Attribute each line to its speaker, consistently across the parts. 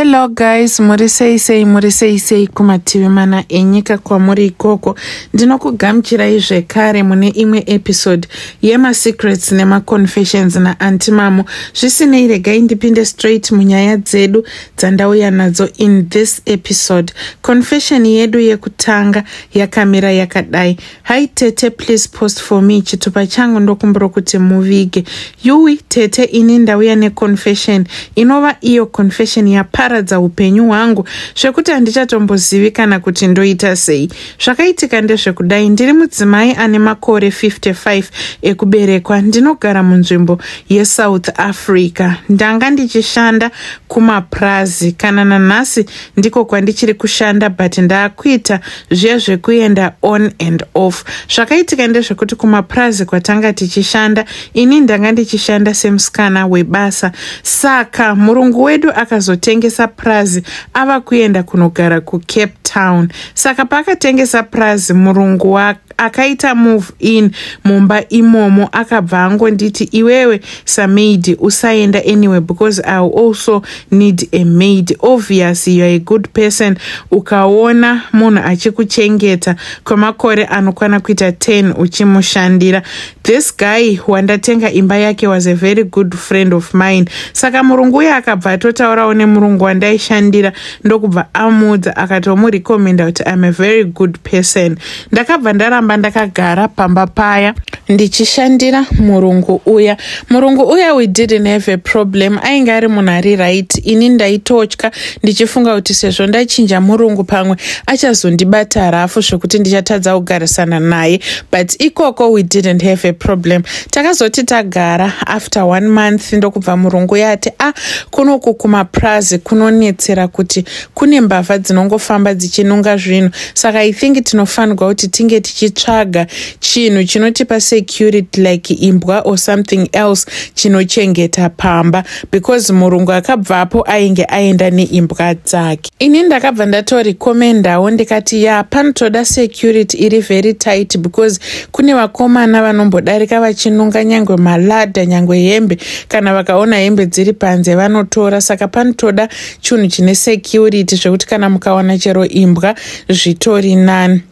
Speaker 1: hello guys muri sei sei muri sei sei kumativi mana enyika kwamuri ikoko ndinokugamuchirai zvekare mune imwe episode yemasecrets nemaconfessions naanti mamo zvisinei regai ndipinde straight munyaya dzedu dzandauya nadzo in this episode confession yedu yekutanga yakamira yakadai Hi tete please post for me chitupa changu ndokumbira kuti muvige. Yuwi tete ini ndauya neconfession inova iyo confession yaparadza upenyu hwangu zvekuti handichatombozivi kana kuti ndoita sei. Zvakaitika ndezvekudai ndiri mudzimai ane makore 55 ekuberekwa ndinogara munzvimbo yeSouth Africa. Ndanga ndichishanda kumapurazi kana nanhasi ndiko kwandichiri kushanda but ndaakuita zviya zvekuenda on and off zvakaitika ndezvekuti kumapurazi kwatanga tichishanda ini ndanga ndichishanda semusikana webasa saka murungu wedu akazotengesa purazi ava kuenda kunogara kucape town saka paakatengesa purazi murungu wake akaita move in mumba imomo akabva angonditi iwewe samaid usaenda anyway because i also need a maid obvious youare a good person ukaona munhu achikuchengeta kwemakore anokwana kuita 10 uchimushandira This guy wandatenga imba yake was a very good friend of mine saka murungu uye akabva atotaurawo nemurungu wandaishandira ndokubva amuudza akatomurecommenda kuti im a very good person ndakabva ndaramba ndakagara pamba paya ndichishandira murungu uya murungu uya we didn't have a problem ainge ari munhu ari right ini ndaitotya ndichifunga kuti sezvo ndachinja murungu pamwe achazondibata rafu zvekuti ndichatadza kugarisana naye but ikoko we didn't have a problem takazoti tagara after one month ndokubva murungu yati a ah, kunoku kumaprazi kunonetsera kuti kune mbavha dzinongofamba dzichinunga zvinhu saka i think tinofanirwa kuti tinge tichitsvaga chinhu chinotipa security like imbwa or something else chinochengeta pamba because murungu akabvapo ainge aenda neimbwa dzake ini ndakabva ndatorekomendawo ndikati ya panotoda security iri very tight because kune vakomana vanombodarika vachinunga nyange malada nyange hembe kana vakaona hembe dziri panze vanotora saka panotoda chinhu chine security zvekuti kana mukawana chero imbwa zvitori nani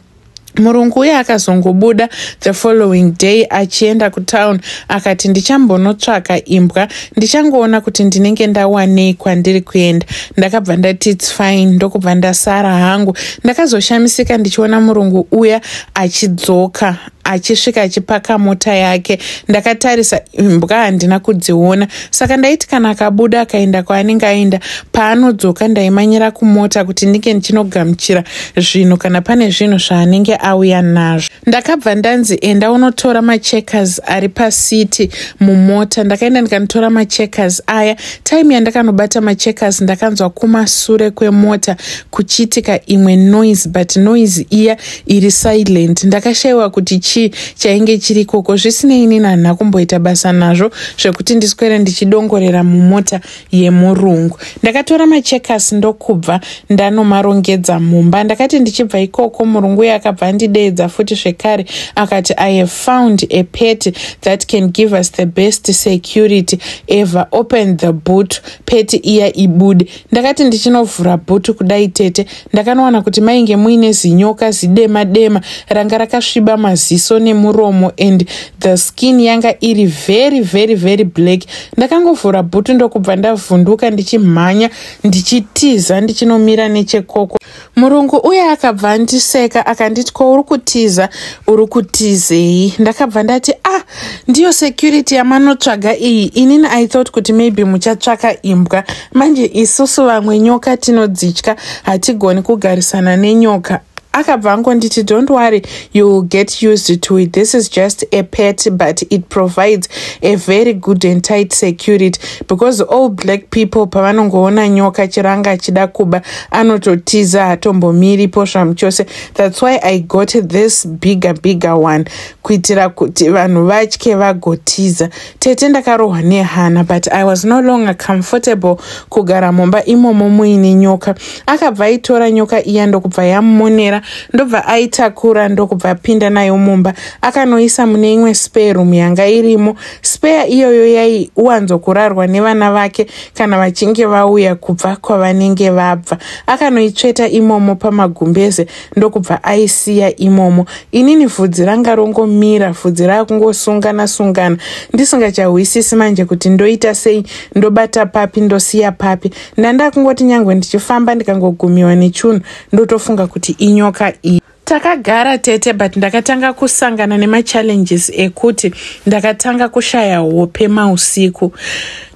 Speaker 1: murungu uye akazongobuda the following day achienda kutown akati ndichambonotsvaka imbwa ndichangoona kuti ndinenge ndawanei kwandiri kuenda ndakabva ndati its fine ndokubva ndasara hangu ndakazoshamisika ndichiona murungu uya achidzoka achisvika achipaka mota yake ndakatarisa imbwa handina kudziona saka ndaiti kana akabuda akaenda kwaanenge aenda paanodzoka ndaimanyira kumota kuti ndinge ndichinogamuchira zvinhu kana pane zvinhu zvaanenge auya nazvo ndakabva ndanzi enda unotora macheckers ari pacity mumota ndakaenda ndikanotora macheckers aya time yandakanobata macheckers ndakanzwa kumasure kwemota kuchiitika imwe noise but noise iya iri silent ndakashaiwa kuti chii chainge chiri ikoko zvisinei inini handina kumboita basa nazvo zvekuti ndiswere ndichidongorera mumota yemurungu ndakatora machekas ndokubva ndanomarongedza mumba ndakati ndichibva ikoko murungu uye akabva andideedza futi zvekare akati i have found a pet that can give us the best security ever open the boot pet iya ibude ndakati ndichinovhura bhutu kudai tete ndakanowana kuti mainge muine zinyoka zidema dema ranga rakasviba maziso nemuromo and the skin yanga iri very very very black ndakangovhura bhutu ndokubva ndavhunduka ndichimhanya ndichitiza ndichinomira nechekoko murungu uye akabva andiseka akanditi ko uri kutiza uri kutizei ndakabva ndati ah ndiyo security yamanotsvaga iyi inini i thought kuti maybe muchatsvaka imbwa manje isusu vamwe nyoka tinodzitya hatigoni kugarisana nenyoka akabva angonditi don't worry you will get used to it this is just a pet but it provides a very good and tight security because all black people pavanongoona nyoka chiranga achida kuba anototiza hatombomiri posva muchose thats why i got this bigger bigger one kuitira kuti vanhu vatye vagotiza tete ndakarohwa nehana but i was no longer comfortable kugara mumba imomo muine nyoka akabva aitora nyoka iya ndokubva yamumonera ndobva aitakura ndokubva apinda nayo mumba akanoisa mune imwe spare room yanga irimo spare iyoyo yaiwanzokurarwa nevana vake kana vachinge vauya kubva kwavanenge vabva akanoitsveta imomo pamagumbeze ndokubva aisiya imomo inini vhudzi ranga rongomira vhudzi rakungosungana sungana ndisingachahwisisi manje kuti ndoita sei ndobata papi ndosiya papi ndandakungoti nyange ndichifamba ndikangogumiwa nechunhu ndotofunga kuti inyoka iyi Takagara tete but ndakatanga kusangana nemachallenges ekuti ndakatanga kushaya hope mausiku.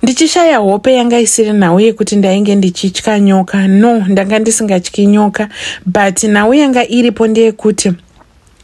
Speaker 1: Ndichishaya hope yanga isiri nhau yekuti ndainge ndichitya nyoka. No, ndanga ndisingatyi nyoka but nhau yanga iripo ndeyekuti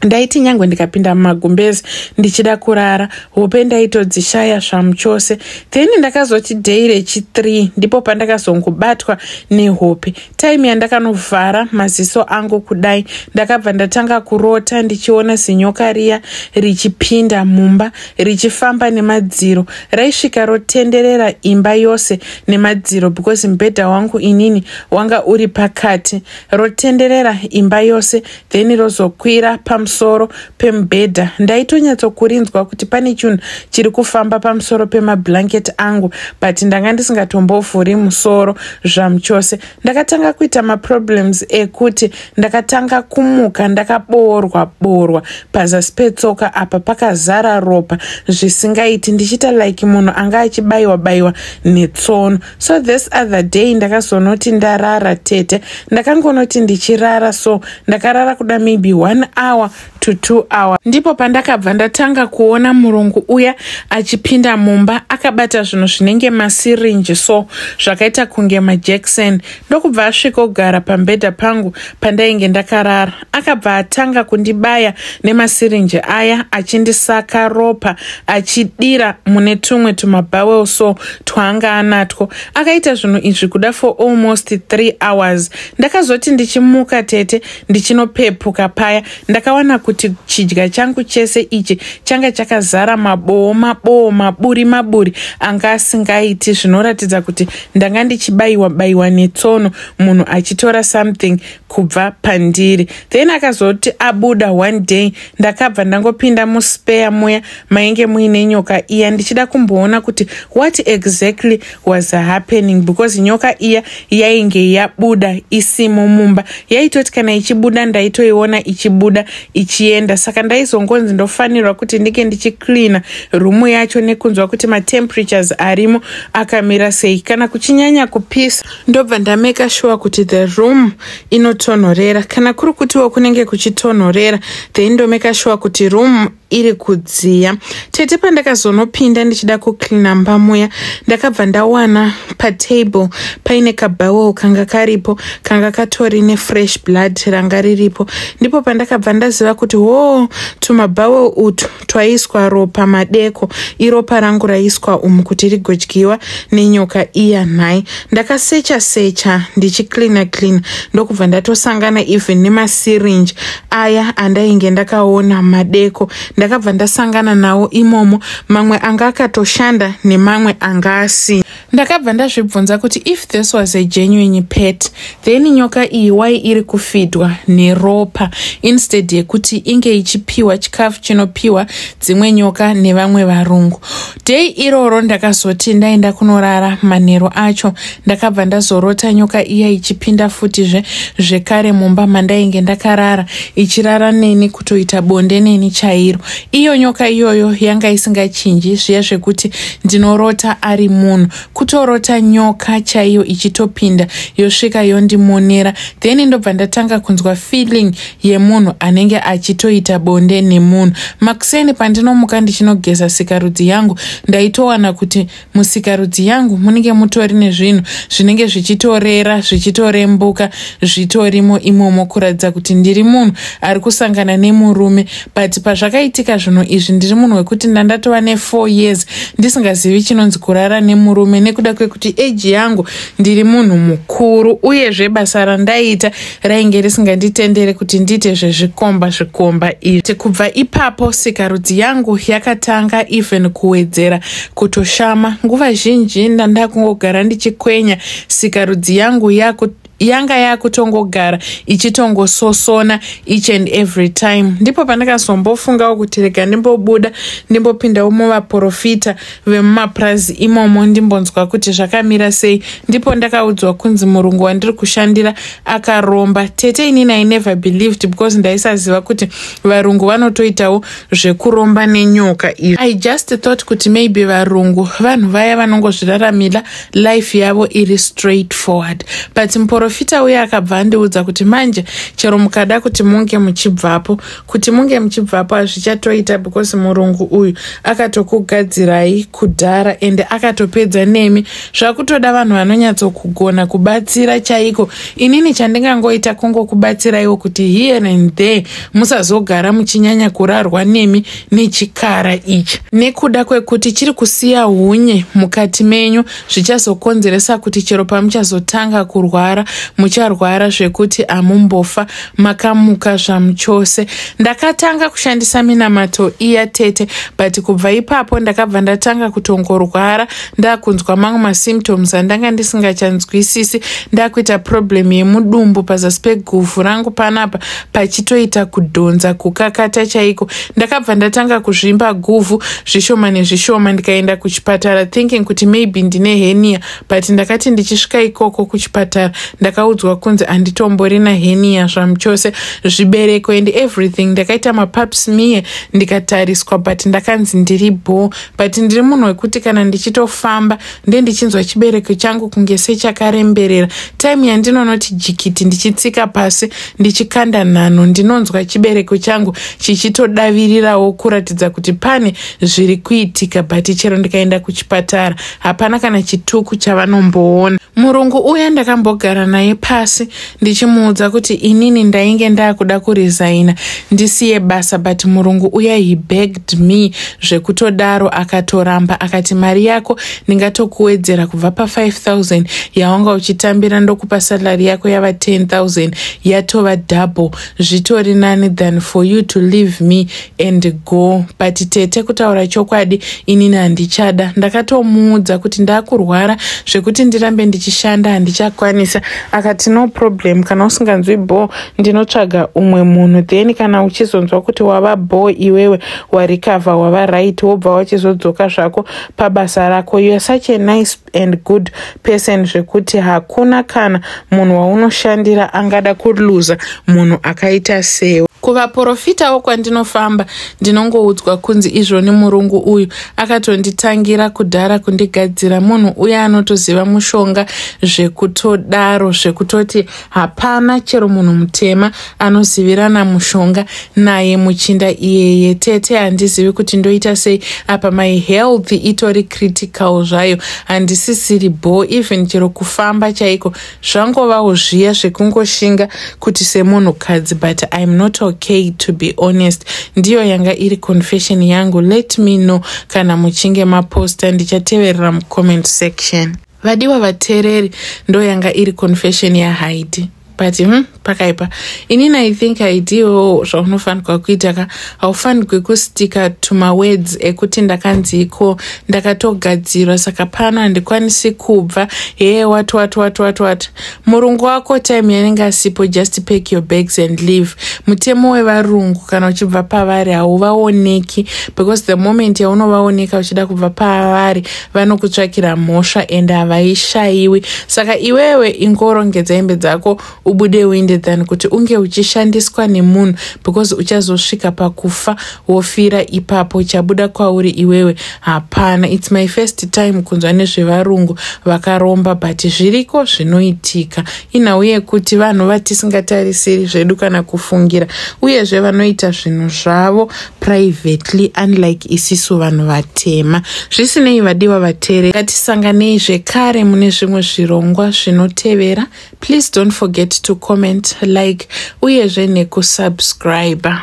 Speaker 1: ndaiti nyange ndikapinda mumagumbezi ndichida kurara hope ndaitodzishaya svamu chose then ndakazoti day rechi3 ndipo pandakazongobatwa nehope time yandakanovhara maziso angu kudai ndakabva ndatanga kurota ndichiona zinyoka riya richipinda mumba richifamba nemadziro raisvika rotenderera imba yose nemadziro because mubhedha wangu inini wanga uri pakati rotenderera imba yose then rozokwira pamusoro pemubhedha ndaitonyatsokurinzwa kuti pane chinhu chiri kufamba pamusoro pemablanket angu but ndanga ndisingatombovhuri musoro zvamuchose ndakatanga kuita maproblems ekuti ndakatanga kumuka ndakaboorwa boorwa pazasi petsoka apa pakazara ropa zvisingaiti ndichiita like munhu anga achibayiwa bayiwa netsono so this other day ndakazonoti ndarara tete ndakangonoti ndichirara so ndakarara kuda maybe one hour to two hour ndipo pandakabva ndatanga kuona murungu uya achipinda mumba akabata zvinhu zvinenge masirinji so zvakaita kunge majackson ndokubva asvikogara pambedha pangu pandainge ndakarara akabva atanga kundibaya nemasirinji aya achindisaka ropa achidira mune tumwe tumabowel so twaanga anatwo akaita zvinhu izvi kuda for almost three hours ndakazoti ndichimuka tete ndichinopepuka paya ndakawana kuti chidya changu chese ichi changa chakazara maboo maboo maburi maburi anga asingaiti zvinoratidza kuti ndanga ndichibayiwa bayiwa netsono munhu achitora something kubva pandiri then akazoti abuda one day ndakabva ndangopinda muspeya muya mainge muine nyoka iya ndichida kumboona kuti what exactly was happening because nyoka iya yainge yabuda isimo mumba yaitoti kana ichibuda ndaitoiona ichibuda ichienda saka ndaizongonzi ndofanirwa kuti ndike ndichicleana rumu yacho nekunzwa kuti mateemperatures arimo akamira sei kana kuchinyanya kupisa ndobva ndameka shuwa kuti the room inotonhorera kana kuri kutiwo kunenge kuchitonhorera then ndomeka shuwa kuti room iri kudziya tete pandakazonopinda ndichida kucleana mba muya ndakabva ndawana patable paine kabowel kanga karipo kanga katori nefresh blood ranga riripo ndipo pandakabva ndaziva kuti hoo tumabowel utu twaiswa ropa madeko iropa rangu raiswa umu kuti rigodyiwa nenyoka iya nhai ndakasecha secha ndichicleana cleana ndokubva ndatosangana even nemasirinji aya andainge ndakaona madeko ndakabva ndasangana nawo imomo mamwe anga akatoshanda nemamwe anga asina ndakabva ndazvibvunza kuti if this was a genuine pet then nyoka iyi wai iri kufidwa neropa instead yekuti inge ichipiwa chikafu chinopiwa dzimwe nyoka nevamwe varungu dei iroro ndakazoti ndaenda kunorara manhero acho ndakabva ndazorota nyoka iya ichipinda futizve zvekare mumba mandainge ndakarara ichirara neni kutoita bonde neni chairo iyo nyoka iyoyo yanga isingachinji zviya zvekuti ndinorota ari munhu kutorota nyoka chaiyo ichitopinda yosvika yondimonera then ndobva ndatanga kunzwa feeling yemunhu anenge achitoita bonde nemunhu makuseni pandinomuka ndichinogeza sikarudzi yangu ndaitowana kuti musikarudzi yangu munenge mutori nezvinhu zvinenge zvichitorera zvichitorembuka zvitorimo imomo kuratidza kuti ndiri munhu ari kusangana nemurume but pazvakaitika zvinhu izvi ndiri munhu wekuti ndandatova nefour years ndisingazivi chinonzi kurara nemurume nekuda kwekuti eji yangu ndiri munhu mukuru uyezve basa randaiita rainge risinganditendere kuti ndiite zvezvikomba zvikomba izvi kubva ipapo sikarudzi yangu yakatanga even kuwedzera kutoshama nguva zhinji ndandakungogara ndichikwenya sikarudzi yangu yaku yanga yakutongogara ichitongososona each and every time ndipo pandakazombofungawo kuti rega ndimbobuda ndimbopindawo muvaprofita vemumapurazi imomo ndimbonzwa kuti zvakamira sei ndipo ndakaudzwa kunzi murungu wandiri kushandira akaromba tete inini i never believed because ndaisaziva kuti varungu vanotoitawo zvekuromba nenyoka izvi i just thought kuti maybe varungu vanhu vaya vanongozviraramira life yavo iri straight forward but muporofita uye akabva andiudza kuti manje chero mukada kuti munge muchibvapo kuti munge muchibvapo hazvichatoita because murungu uyu akatokugadzirai kudhara ende akatopedza nemi zvakutoda vanhu vanonyatsokugona kubatsira chaiko inini chandingangoita kungokubatsiraiwo kuti here and there musazogara muchinyanya kurarwa nemi nechikara ichi nekuda kwekuti chiri kusiya hunye mukati menyu zvichazokonzeresa kuti chero pamuchazotanga kurwara mucharwara zvekuti amumbofa makamuka zvamuchose ndakatanga kushandisa minamato iya tete but kubva ipapo ndakabva ndatanga kutongorwara ndakunzwa mamwe masymptoms andanga ndisingachanzwisisi ndakuita problem yemudumbu pazasi peguvhu rangu panapa pachitoita kudhonza kukakata chaiko ndakabva ndatanga kuzvimba guvhu zvishoma nezvishoma ndikaenda kuchipatara thinking kuti maybe ndine henia but ndakati ndichisvika ikoko kuchipatara ndakaudzwa kunzi anditombori nahenia zvamuchose zvibereko and everything ndakaita mapups mie ndikatariswa but ndakanzi ndiri bho but ndiri munhu wekuti kana ndichitofamba ndendichinzwa chibereko changu kunge sechakaremberera taimu yandinonoti jikiti ndichitsika pasi ndichikanda nhanho ndinonzwa chibereko changu chichitodavirirawo kuratidza kuti pane zviri kuitika but chero ndikaenda kuchipatara hapana kana chituku chavanomboona murungu uya ndakambogara naye pasi ndichimuudza kuti inini ndainge ndakuda kuresigna ndisiye basa but murungu uya he begged me zvekutodaro akatoramba akati mari yako ndingatokuwedzera kubva pa5000 yawanga uchitambira ndokupa salary yako yava 10000 yatova double zvitori nani than for you to leave me and go but tete kutaura chokwadi inini handichada ndakatomuudza kuti ndakurwara zvekuti ndirambe ndichishanda handichakwanisa akati no problem kana usinganzwi bho ndinotsvaga umwe munhu then kana uchizonzwa kuti wava bho iwewe warikavha wava right wobva wachizodzoka zvako pabasa rako youare such a nice and good person zvekuti hakuna kana munhu waunoshandira angada kuluza munhu akaita sewe kuvaporofitawo kwandinofamba ndinongoudzwa kunzi izvo nemurungu uyu akatonditangira kudhara kundigadzira munhu uye anotoziva mushonga zvekutodaro zvekutoti hapana chero munhu mutema anozivirana mushonga naye muchinda iyeye tete handizivi kuti ndoita sei apa my health itori critical zvayo handisisiri bho even chero kufamba chaiko zvangovawo zviya zvekungoshinga kuti semunhukadzi but iam not okay to be honest ndiyo yanga iri confession yangu let me know kana muchinge maposta ndichateverera mucomment section vadiwa vateereri ndoyanga iri confession yahaidi but hmm, pakaipa inini i think idiwo zvaunofanirwa kuita ka haufanirwi kustika tumawords ekuti ndakanziiko ndakatogadzirwa saka pano handikwanisi kubva hee wat wat wat wat wat murungu wako time yanenge asipo just pack your bags and leave mutemo wevarungu kana uchibva pavari hauvaoneki because the moment yaunovaoneka uchida kubva pavari vanokutsvakira mhosva ende havaishayiwi saka iwewe ingorongedza hembe dzako ubude uinde than kuti unge uchishandiswa nemunhu because uchazosvika pakufa wofira ipapo chabuda kwauri iwewe hapana its my first time kunzwa nezvevarungu vakaromba but zviriko zvinoitika inhau yekuti vanhu vatisingatarisiri zvedu kana kufungira uyezve vanoita zvinhu zvavo privately unlike isisu vanhu vatema zvisinei vadiwa vatere ngatisanganei zvekare mune zvimwe zvirongwa zvinotevera please don't forget to comment like uyezve nekusubscriber